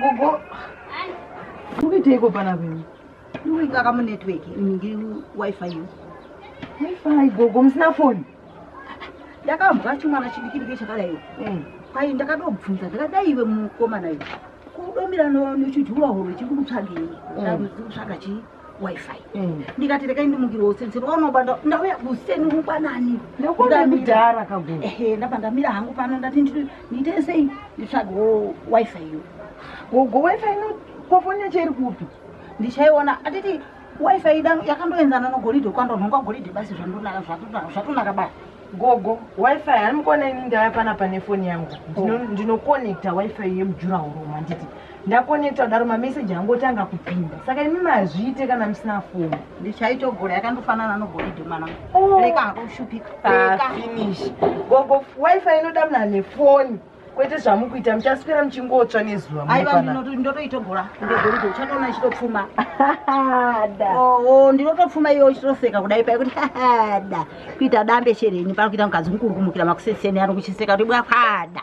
Gogo. Mukiteiko pana venu? Ndikuita kamu network ndi wifi yo. Wifi gogo musina phone. Ndakambwa chimwana chidikidike chakadai. Eh. Kwai ndakatobvunza ndakadai iwe mukoma nayo. Kudomira no chijura horo chikutsvagei. Ndakutsvaga chii? wifi mm. ndikati rekai ndimukirwa useni seni waunoba ndauya useni ngwanani ndamidhara kaguru ehe ndabva ndamira hangu pano ndati ndiite sei nditsvagawo wifi iyo gogo wifi ino kofoni yacho iri kupi ndichaiona atiti wifi ida yakandoenzana nogoridhe kwandonhonga goridhe basi zvandonaka zvatonaka basi gogo wifi hanimukona ini ndaya panapa nefoni yangu ndinoconnecta wifi yemujurahoro manditi Ndakonekta kudaro mameseji angotanga kupinda saka imi mazviite kana musina foni. Ndichaitogona yakandofanana nogolidhi mwana oh. reka hakushupika ah, finish gogo wifi inoda mna nefoni kwete zvamukuita muchaswera muchingotsva nezuva aiwa ndotoitogora ndegolidhi uchatoona ichitopfuma da oo oh, oh, ndinotopfuma iwe uchitoseka kudai paikuti da kuita dambe shere yenyu pari kuita mukadzi mukurukumukira makuseseni ari kuchiseka kuti bwakwada